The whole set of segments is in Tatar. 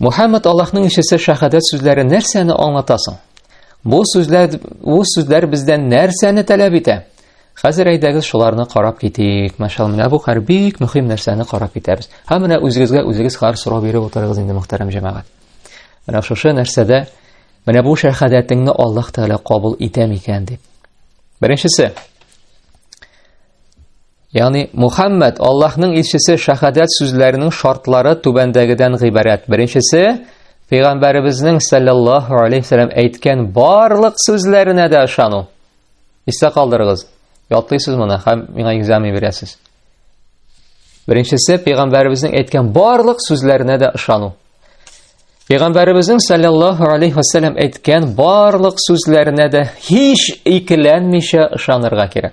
Мухаммад Аллаһның ишесе шәһадәт сүзләре нәрсәне аңлата соң? Бу сүзләр бу сүзләр бездән нәрсәне таләп итә? Хәзер әйдәгез шуларны карап китик. Мәшәл, менә бу хәр бик мөһим нәрсәне карап китәбез. Һәм менә үзегезгә үзегез хәр сорау биреп утырыгыз инде, мөхтәрәм җәмәгать. Менә шушы нәрсәдә менә бу шәһадәтеңне Аллаһ Тәгалә кабул итә микән дип. Беренчесе. Яни Мухаммад Аллаһның илчесе шахадат сүзләренең шартлары түбәндәгедән гыйбарәт. Беренчесе, Пәйгамбәребезнең саллаллаһу алейхи вәсәлләм әйткән барлык сүзләренә дә ышану. Истә калдырыгыз. Ятлыйсыз моны һәм миңа экзамен бирәсез. Беренчесе, Пәйгамбәребезнең әйткән барлык сүзләренә дә ышану. Пәйгамбәребезнең саллаллаһу алейхи вәсәлләм әйткән барлык сүзләренә дә һич икеләнмичә ышанырга кирәк.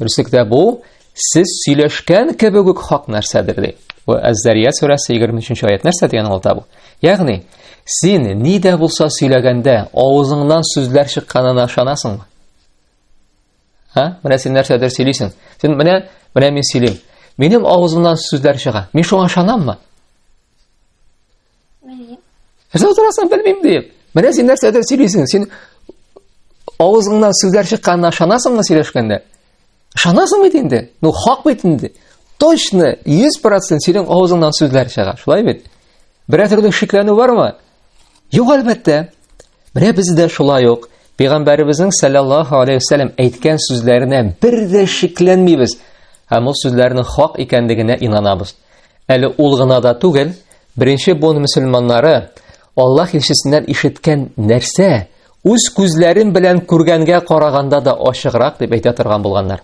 Дөреслекдә бу сез сөйләшкән кебек үк хак нәрсәдер ди. Ва Әз-Зария сүрәсе 23 нче аят нәрсә дигән алта бу? Ягъни, син ни дә булса сөйләгәндә, авызыңнан сүзләр чыкканына ышанасыңмы? Ха? Менә син нәрсәдер сөйлисең. Син менә, менә мин сөйлим. Минем авызымнан сүзләр чыга. Мин шуңа ышанаммы? Нәрсә утырасың, белмим, диеп. Менә син нәрсәдер сөйлисең, син авызыңнан сүзләр чыкканына ышанасыңмы сөйләшкәндә? Ышанасың бит инде. Ну, хак бит инде. Точно 100% синең авызыңнан сүзләр чыга. Шулай бит? Берәр төрле шикләнү бармы? Юк, әлбәттә. Менә без дә шулай ук Пәйгамбәребезнең саллаллаһу алейхи вәсәлләм әйткән сүзләренә бер дә шикләнмибез һәм ул сүзләрнең хак икәнлегенә инанабыз. Әле ул гына да түгел, беренче буын мөселманнары Аллаһ илчесеннән ишеткән нәрсә үз күзләрен белән күргәнгә караганда да ачыграк дип әйтә торган булганнар.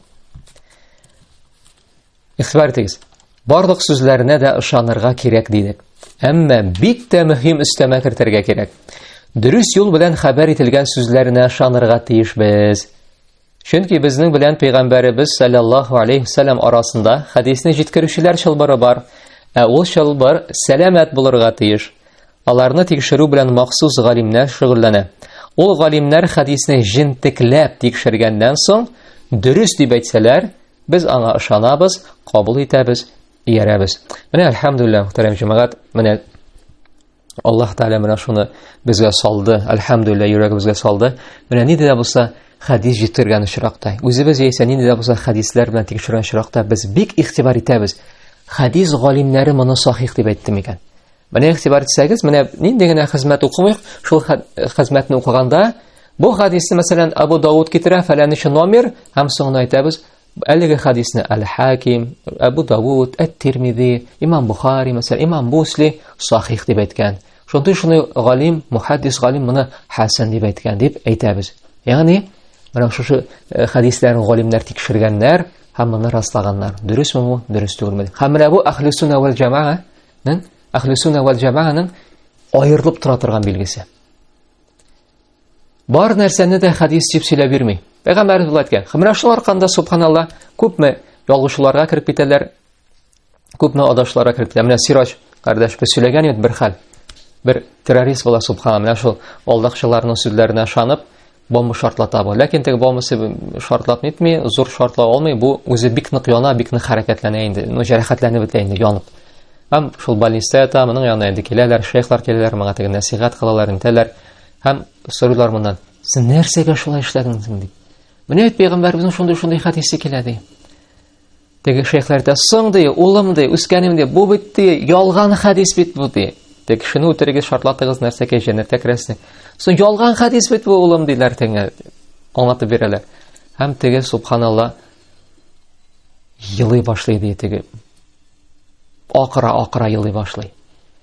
Ихтибар итегез. Барлык сүзләренә дә ышанырга кирәк дидек. Әмма бик тә мөһим өстәмә кертергә кирәк. Дөрес юл белән хәбәр ителгән сүзләренә ышанырга тиеш без. Чөнки безнең белән пәйгамбәребез саллаллаһу алейхи вассалам арасында хәдисне җиткерүчеләр чылбыры бар. Ә ул чылбыр сәламәт булырга тиеш. Аларны тикшерү белән махсус галимнәр шөгыльләнә. Ул галимнәр хәдисне җентекләп тикшергәннән соң, дөрес дип әйтсәләр, Без аңа ышанабыз, кабул итәбез, иярәбез. Менә әлхәмдулилла, мөхтәрәм җәмәгать, менә Аллаһ Тәгалә менә шуны безгә салды, әлхәмдулилла, йөрәгебезгә салды. Менә нинди дә булса хәдис җитергән очракта, үзебез яисә нинди дә булса хәдисләр белән тикшергән очракта без бик игътибар итәбез. Хәдис галимнәре моны сахих дип әйтте микән? Менә игътибар итсәгез, менә нинди генә хезмәт укымыйк, шул хезмәтне укыганда бу хадисны, мәсәлән, Абу Дауд китерә, фәләничә номер, һәм соңына әйтәбез, әлеге хадисны Әл-Хаким, Абу Дауд, Әт-Тирмизи, Имам Бухари, мәсәлән, Имам Мусли сахих дип әйткән. Шундый шуны галим, мухаддис галим моны хасан дип әйткән дип әйтәбез. Ягъни, менә шушы э, хадисләрне галимнәр тикшергәннәр һәм моны раслаганнар. Дөресме бу, дөрес түгелме? Һәм менә бу әхле сунна вәл җамаа Ның Әхле сүнә вәл җәмәгәнең аерылып тора торган билгесе. Бар нәрсәне дә хадис дип сөйләп бирми. Пәйгамбәр булат кә. Хәмрә шул арканда субханалла күпме ялгышларга кирип китәләр. Күпме адашларга кирип китәләр. Менә Сираҗ кардәш бу сөйләгән иде бер хәл. Бер террорист була субханалла. Менә шул алдакчыларның сүзләренә шанып, бомба шартлата бу. Ләкин теге бомбасы шартлап нитми, зур шартлап алмый, бу үзе бик нык яна, бик нык хәрәкәтләнә инде. Ну, җәрәхәтләнеп бетә инде, янып. Һәм шул больниста ята, моның янына инде киләләр, шейхлар киләләр, моңа теге нәсихәт кылалар, интәләр. Һәм сорыйлар моннан, син нәрсәгә шулай эшләдең дип. Менә бит пәйгамбәребезнең шундый-шундый хәдисе килә ди. Теге шейхләр дә соң ди, улым ди, үскәнем ди, бу бит ди, ялган хәдис бит бу ди. Тек кешене үтерегез, шартлатыгыз, нәрсә кә җәннәткә керәсең. Соң ялган хәдис бит бу, улым диләр теңә. Аңлатып бирәләр. Һәм теге субханалла елый башлый ди теге. Акыра, акыра елый башлый.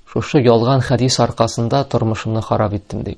Шушы ялган хәдис аркасында тормышымны харап иттем ди.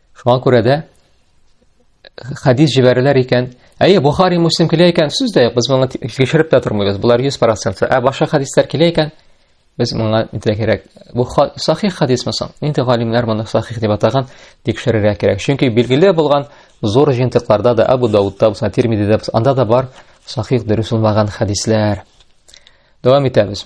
Шуңа күрә дә хәдис җибәрәләр икән. Әйе, Бухари, Муслим килә икән, сүз дә юк, без моны тикшереп тә тормыйбыз. Булар 100%. Ә башка хәдисләр килә икән, без моңа нитә кирәк? Бу сахих хәдис мисал. Нинди галимнәр моны сахих дип атаган, тикшерергә кирәк. Чөнки билгеле булган зур җентыкларда да Абу Даудта булса, Тирмидидә булса, анда да бар сахих дөрес булмаган хәдисләр. Дәвам итәбез.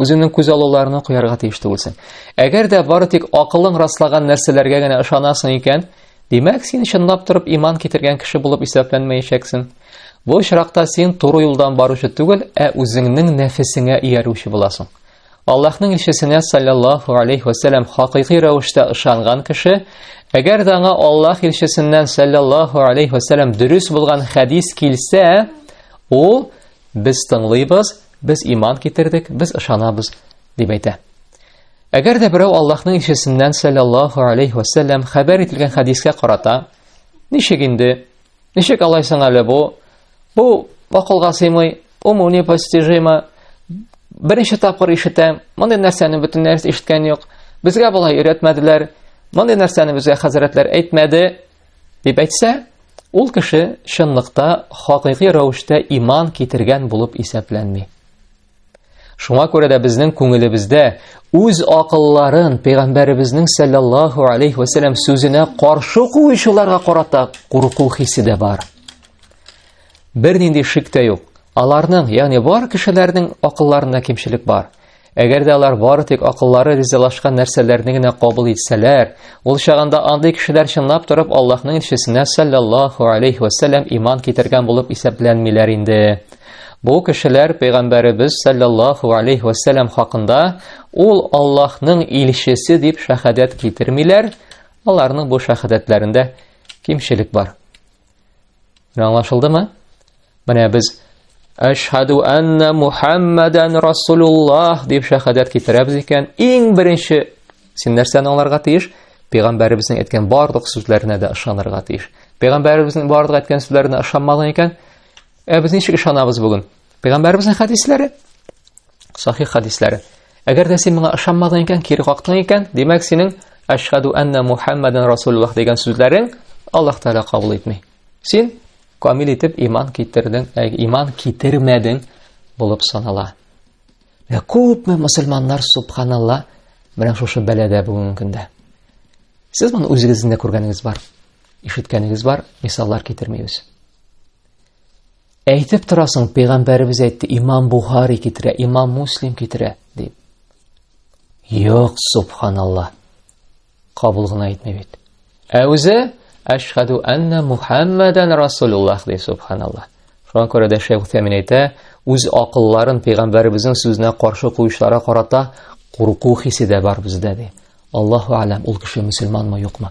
Үзеңнең күз алуларына куярга тиеш түгелсең. Әгәр дә бары тик акылың раслаган нәрсәләргә генә ышанасың икән, димәк, син чынлап торып иман китергән кеше булып исәпләнмәячәксең. Бу очракта син туры юлдан баручы түгел, ә үзеңнең нәфесеңә иярүче буласың. Аллаһның илчесенә саллаллаху алейхи ва саллям хакыйкый рәвештә ышанган кеше, әгәр дә аңа Аллаһ илчесеннән саллаллаху алейхи ва саллям дөрес булган хәдис килсә, ул без тыңлыйбыз, Без иман китердек, без ышанабыз, дип әйтә. Әгәр дә берәү Аллаһның илчесеннән саллаллаһу алейхи ва саллям хәбәр ителгән хәдискә карата, ничек инде? Ничек алай соң әле бу? Бу акылга сыймый, уму непостижимо. Беренче тапкыр ишетәм, мондый нәрсәне бөтен нәрсә ишеткән юк. Безгә болай өйрәтмәделәр. Мондый нәрсәне безгә хәзрәтләр әйтмәде, Дип әйтсә, ул кеше чынлыкта хакыйкый рәвештә иман китергән булып исәпләнми. Шуңа күрә дә безнең күңелебездә үз акылларын пәйгамбәребезнең саллаллаһу алейхи вәсәләм сүзенә каршы куючыларга карата курку хисе дә бар. Бернинди шик тә юк. Аларның, ягъни бар кешеләрнең акылларында кимчелек бар. Әгәр дә алар бары тик акыллары ризалашкан нәрсәләрне генә кабул итсәләр, ул чагында андый кешеләр чынлап торып Аллаһның илчесенә саллаллаһу алейхи ва саллям иман китергән булып исәпләнмиләр инде. Бу кешеләр пәйгамбәребез саллаллаһу алейхи ва саллям хакында ул Аллаһның илчесе дип шахадәт китермиләр, аларның бу шахадәтләрендә кимчелек бар. Аңлашылдымы? Менә без Әшһаду анна Мухаммадан Расулуллах дип шәһадәт китерәбез икән, иң беренче син нәрсәне аңларга тиеш? Пәйгамбәребезнең әйткән барлык сүзләренә дә ышанырга тиеш. Пәйгамбәребезнең барлык әйткән сүзләренә ышанмаган икән, ә без ничек ышанабыз бүген? Пәйгамбәребезнең хәдисләре, сахих хәдисләре. Әгәр дә син моңа ышанмадың икән, кире кактың икән, димәк синең ашхаду анна Мухаммадан Расулуллах дигән сүзләрең Аллаһ Тәгалә кабул итми. Син камил итеп иман китердең, ә иман китермәдең булып санала. Менә күпме мусульманнар субханалла менә шушы бәләдә бүгенге көндә. Сез моны үзегездә күргәнегез бар, ишеткәнегез бар, мисаллар китермибез. Әйтеп торасың, пәйгамбәребез әйтте, имам Бухари китерә, имам Муслим китерә, дип. Юк, субханалла. Кабул гына әйтмә бит. Ә үзе Әшһаду анна Мухаммадан Расулуллах ди, субханалла. Шуңа күрә дә Шәйх Утәмин әйтә, үз акылларын пәйгамбәребезнең сүзенә каршы куючыларга карата курку хисе дә бар бездә ди. Аллаһу алям, ул кеше мусульманмы, юкмы?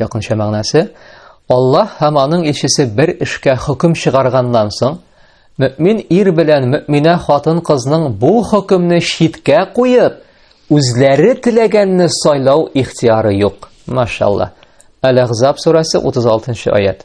Якынча мәгънәсе, Аллаһ һәм аның илчесе бер эшкә хөкем чыгарганнан соң, мөмин ир белән мөминә хатын-кызның бу хөкемне читкә куеп, үзләре теләгәнне сайлау ихтияры юк. Машалла. Әл-Ахзаб сурәсе 36 нчы аят.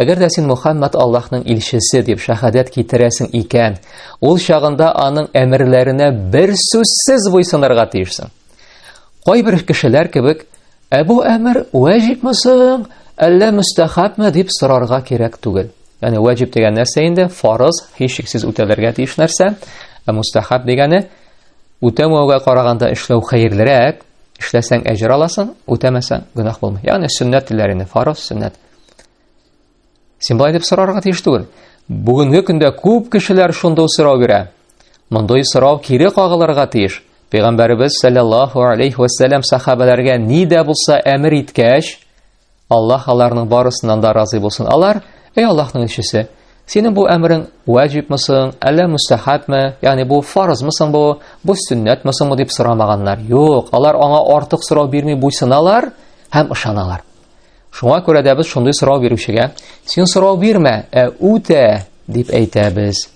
Әгәр дә син Мухаммад Аллаһның илчесе дип шәһадәт китерәсең икән, ул чагында аның әмерләренә бер сүзсез буйсынырга тиешсең. Кайбер кешеләр кебек, ә бу әмер вәҗибме соң, әллә мөстәхабме дип сорарга кирәк түгел. Яни вәҗиб дигән нәрсә инде фарыз, һичшиксез үтәлергә тиеш нәрсә. Ә мустахаб дигәне үтәмәүгә караганда эшләү хәерлерәк, Эшләсәң әҗер аласың, үтәмәсәң гөнаһ булмый. Ягъни сөннәт диләр инде, фарыз, сөннәт. Син болай дип сорарга тиеш түгел. Бүгенге көндә күп кешеләр шундый сорау бирә. Мондый сорау кире кагылырга тиеш. Пәйгамбәребез саллаллаһу алейхи ва саллям сахабаларга ни дә булса әмер иткәч, Аллаһ аларның барысыннан да разый булсын. Алар, эй Аллаһның илчесе, синең бу әмерең ваҗибме соң, әллә мустахабме, ягъни бу фарызмы соң бу, бу сөннәтме соңмы дип сорамаганнар. Юк, алар аңа артык сорау бирми буйсыналар һәм ышаналар. Шуңа күрә дә без шундый сорау бирүчегә, син сорау бирмә, ә үтә дип әйтәбез.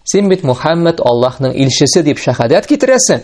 Син бит Мухаммед Аллаһның илчесе дип шәһадәт китерәсең.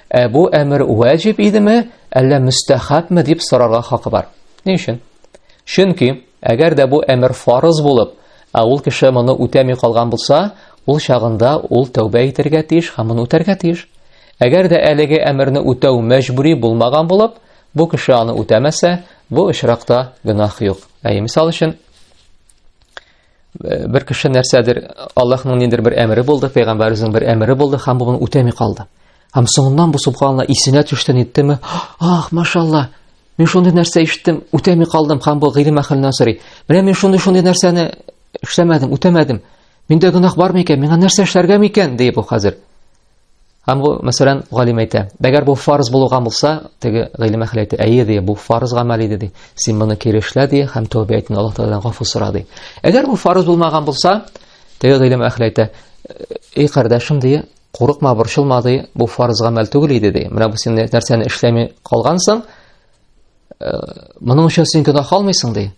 Ә бу әмер вәҗиб идеме, әллә мөстәхәпме дип сорарга хакы бар. Ни өчен? Чөнки, әгәр дә бу әмер фарыз булып, ә ул кеше моны үтәми калган булса, ул чагында ул тәүбә итәргә тиеш һәм моны үтәргә тиеш. Әгәр дә әлеге әмерне үтәү мәҗбүри булмаган булып, бу кеше аны үтәмәсә, бу очракта гөнаһ юк. Әй, мисал өчен, Э, бер кеше нәрсәдер Аллаһның ниндер бер әмере булды, пәйгамбәребезнең бер әмере булды һәм бу моны үтәми калды. Һәм соңыннан бу субханла исенә төште ниттеме? Ах, машалла. Мин шундый нәрсә иштем, үтәми калдым һәм бу гыйлем әхленнән сорый. Менә мин шундый шундый нәрсәне эшләмәдем, үтәмәдем. Миндә гөнаһ бар микән? Миңа нәрсә эшләргә микән? дип бу хәзер. Һәм бу, мәсәлән, галим әйтә, әгәр бу фарз булуга булса, теге гыйлем әхле әйтә, әйе ди, бу фарз гамәл иде ди. Син моны кире эшлә ди, һәм тәүбә итен Аллаһ Тәгаләдән гафу сора ди. Әгәр бу фарз булмаган булса, теге гыйлем әхле әйтә, эй кардәшем ди, курыкма, борчылма ди, бу фарз гамәл түгел иде ди. Менә бу син нәрсәне эшләми калгансың, Моның өчен син гөнаһ алмыйсың ди.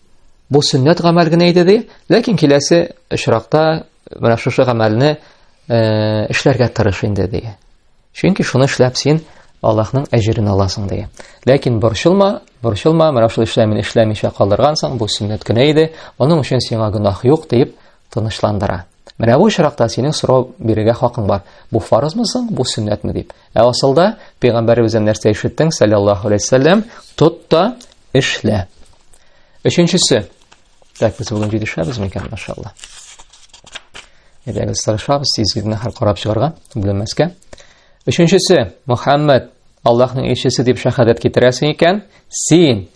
Бу сөннәт гамәл генә иде ди, ләкин киләсе очракта менә шушы гамәлне э, эшләргә тырыш инде ди. Чөнки шуны эшләп син Аллаһның әҗерен аласың ди. Ләкин борчылма, борчылма, менә шул эшләмен эшләмичә калдыргансың, бу сөннәт кенә иде. Моның өчен сиңа гөнаһ юк дип тынычландыра. Менә бу очракта синең сорау бирергә хакың бар. Бу фарызмы соң, бу сөннәтме дип. Ә асылда пәйгамбәребездән нәрсә ишеттең, саллаллаху алейһи вәсәлләм, тот та эшлә. Өченчесе. Так, без бүген җитешәбез микән, машалла. Әйдәгез, сарышабыз, сизгидне хәл карап чыгарга, бүлмәскә. Өченчесе, Мухаммад, Аллаһның илчесе дип шәһадәт китерәсең икән, син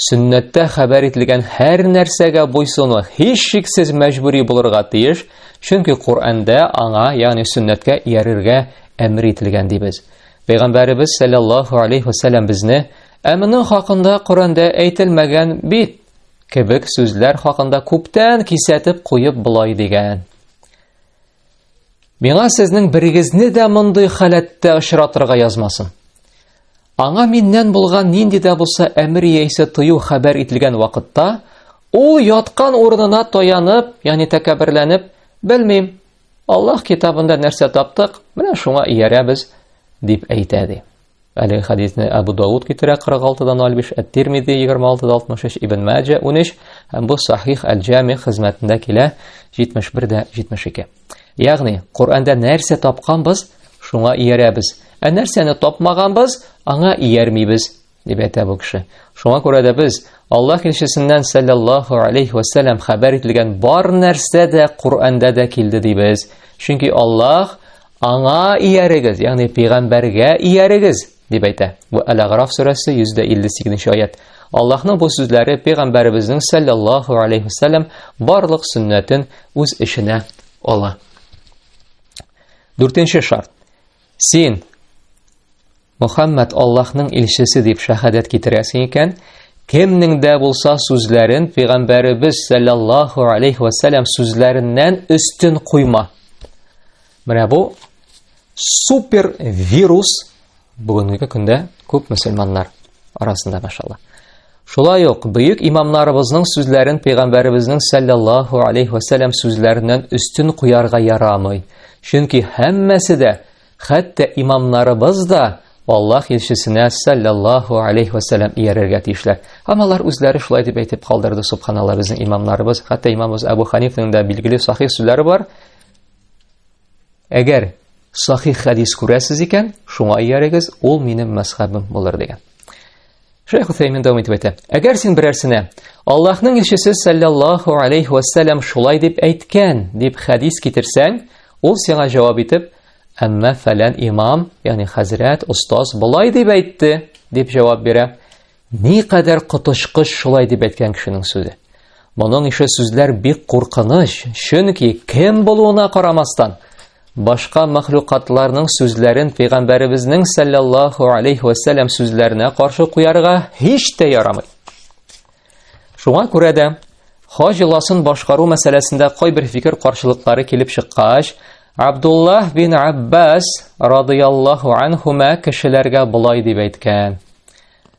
Сөннәттә хәбәр ителгән һәр нәрсәгә буйсыну һичшиксез мәҗбүри булырга тиеш, чөнки Коръәндә аңа, ягъни сөннәткә иярергә әмер ителгән дибез. Пәйгамбәребез саллаллаһу алейхи ва саллям безне "Ә моның хакында Коръәндә әйтелмәгән бит" кебек сүзләр хакында күптән кисәтеп куеп болай дигән. Миңа сезнең берегезне дә мондый халәттә очратырга язмасын. Аңа миннән булган нинди дә булса әмер яисә тыю хәбәр ителгән вакытта, ул яткан урынына таянып, ягъни тәкәбберләнеп, белмим, Аллаһ китабында нәрсә таптык, менә шуңа иярәбез, дип әйтә ди. Әлеге хәдисне Әбу Дауд китерә 46-дан-05, Әт-Тирмизи 26-63, Ибн Мәҗә 13, һәм бу Сахих әл-Җами хезмәтендә килә 71-72. Ягъни, Коръәндә нәрсә тапканбыз, шуңа иярәбез. Ә нәрсәне тапмаганбыз, аңа иярмибез, дип әйтә бу кеше. Шуңа күрә дә без Аллаһ илчесеннән саллаллаһу алейхи ва саллям хәбәр ителгән бар нәрсә дә Коръәндә дә килде дибез. Чөнки Аллаһ Аңа иярегез, ягъни пәйгамбәргә иярегез, дип әйтә. Бу Әл-Аграф сүрәсе 158 аят. Аллаһның бу сүзләре пәйгамбәребезнең саллаллаһу алейхи вассалам барлык сөннәтен үз эченә ала. Дүртенче шарт. Син Мөхәммәд Аллаһның илчесе дип шәһадәт китерәсең икән, кемнең дә булса сүзләрен пәйгамбәребез саллаллаһу алейхи ва саллям сүзләреннән өстен куйма. Менә бу супер вирус бүгенге көндә күп мөселманнар арасында машалла. Шулай ук бөек имамнарыбызның сүзләрен пәйгамбәребезнең саллаллаһу алейхи ва саллям сүзләреннән өстен куярга ярамый. Чөнки һәммәсе дә Хәтта имамнарыбыз да Аллаһ илчесенә саллаллаху алейхи ва саллям иярергә тиешләр. Һәм алар үзләре шулай дип әйтеп калдырды, субханаллаһ, безнең имамнарыбыз, хәтта имамыбыз Абу Ханифның да билгеле сахих сүзләре бар. Әгәр сахих хәдис күрәсез икән, шуңа иярегез, ул минем мәсхәбем булыр дигән. Шейх Усаймин дәвам итеп әйтә. Әгәр син берәрсенә Аллаһның илчесе саллаллаху алейхи ва саллям шулай дип әйткән дип хәдис китерсәң, ул сиңа җавап итеп, әмма фәлән имам, ягъни хәзрәт, остаз болай дип әйтте дип җавап бирә. Ни кадәр котышкыч шулай дип әйткән кешенең сүзе. Моның ише сүзләр бик куркыныч, чөнки кем булуына карамастан, Башка мәхлукатларның сүзләрен пәйгамбәребезнең саллаллаһу алейхи ва саллям сүзләренә каршы куярга һич тә ярамый. Шуңа күрә дә хаҗ йоласын башкару мәсьәләсендә кайбер фикер каршылыклары килеп чыккач, Абдуллах бин Аббас радыяллаһу анхума кешеләргә болай дип әйткән: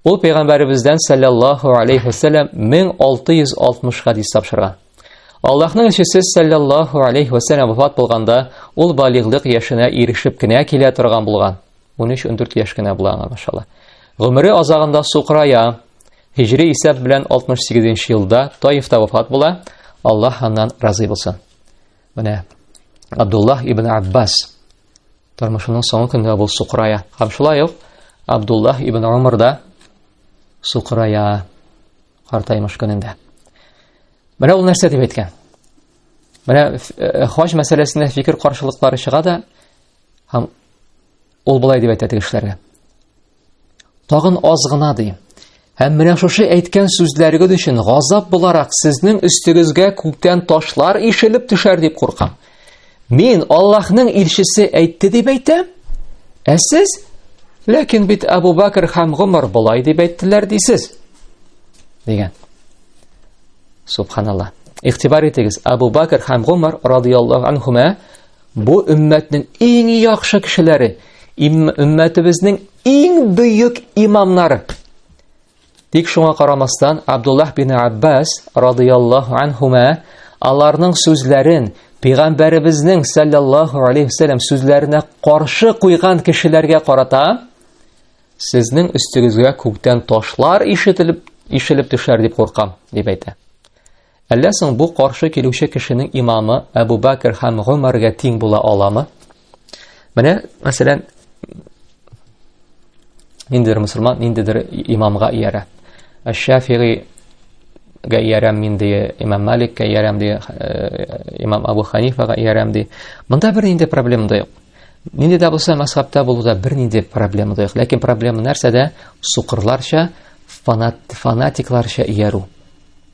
Ул пәйгамбәребездән саллаллаһу алейхи вәсәлләм 1660 хадис тапшырган. Аллаһның илчесе саллаллаһу алейхи вәсәлләм вафат булганда, ул балиглык яшенә ирешеп кенә килә торган булган. 13-14 яшь кенә була аңа, машалла. Гомере азагында сукрая. Һижри исәп белән 68 елда Таифта вафат була. Аллаһ аннан разый булсын. Менә Абдуллах ибн Аббас тормышының соңгы көнендә бул сукырая. Һәм шулай ук Абдуллах ибн Умар да сукырая картаймыш көнендә. Менә ул нәрсә дип әйткән? Менә хаҗ мәсьәләсендә фикер каршылыклары чыга да, һәм Ул болай дип әйтә тегешләргә. Тагын аз гына ди. Һәм менә шушы әйткән сүзләрегез өчен газап буларак сезнең өстегезгә күктән ташлар ишелеп төшәр дип куркам. Мин Аллаһның илчесе әйтте дип әйтәм. Ә сез ләкин бит Абу Бакр һәм Гомар болай дип әйттеләр дисез. Дигән. Субханаллаһ. Ихтибар итегез, Абу Бакр һәм Гомар радияллаһу анхума Бу өммәтнең иң яхшы кешеләре, өммәтебезнең иң бөек имамнары. Тик шуңа карамастан, Абдуллах бин Аббас радияллаху анхума аларның сүзләрен пәйгамбәребезнең саллаллаху алейхи вассалам сүзләренә каршы куйган кешеләргә карата сезнең өстегезгә күктән ташлар ишетелеп ишелеп төшәр дип куркам, дип әйтә. Әллә соң бу каршы килүче кешенең имамы Әбу Бәкер һәм Гомәргә тиң була аламы? Менә, мәсәлән, ниндидер мусульман ниндидер имамга иярә. Әш-Шафигыйга иярәм мин ди, имам Маликка иярәм ди, имам Абу Ханифага иярәм ди. Монда бер нинди проблема да юк. Нинди дә булса мәсхабта булуда бер нинди проблема да юк. Ләкин проблема нәрсәдә? Сукырларча, фанат, фанатикларча иярү.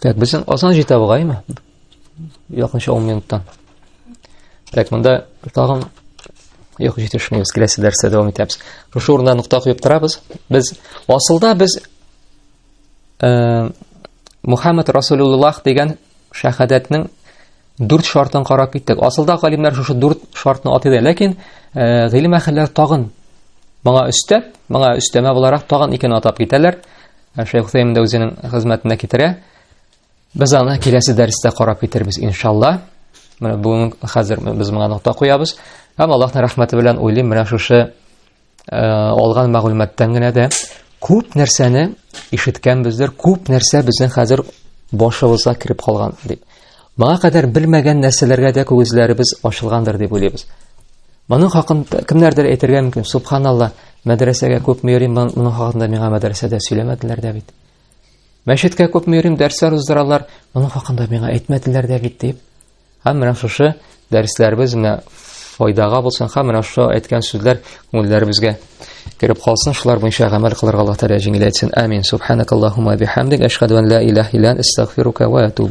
Так, безнең Казан җитә бугаймы? Якынча 10 минуттан. Так, монда тагын юк җитешмибез, киләсе дәрестә дәвам итәбез. Шушы урында нокта куеп торабыз. Без асылда без э, Мухаммад Расулуллах дигән шәһадәтнең Дүрт шартын карап киттек. Асылда галимнәр шушы дүрт шартны атый да, ләкин э, гыйлем әһелләре тагын моңа өстәп, моңа өстәмә буларак тагын икен атап китәләр. Э, Шәйх Хусейн дә үзенең хезмәтенә китерә. Без аны киләсе дәрестә карап китербез, иншалла. Менә бүген хәзер без моңа нокта куябыз. Һәм Аллаһның рәхмәте белән уйлыйм, менә шушы э, алган мәгълүматтан генә дә күп нәрсәне ишеткәнбездер, күп нәрсә безнең хәзер башыбызга кереп калган дип. Моңа кадәр белмәгән нәрсәләргә дә күзләребез ачылгандыр дип уйлыйбыз. Моның хакында кемнәрдер әйтергә мөмкин, субханалла, мәдрәсәгә күп йөрим, моның хакында миңа мәдрәсәдә сөйләмәделәр дә бит. Мәчеткә күп йөрим, дәресләр уздыралар, моның хакында миңа әйтмәделәр дә бит дип. Һәм менә шушы дәресләребез менә файдага булсын һәм менә шушы әйткән сүзләр күңелләребезгә кереп калсын шулар буенча гамәл кылырга алла тәгалә җиңеләйтсен амин субханакаллахума бихамдик әшһәду ан ла илаһ илля астагфирука ва атуб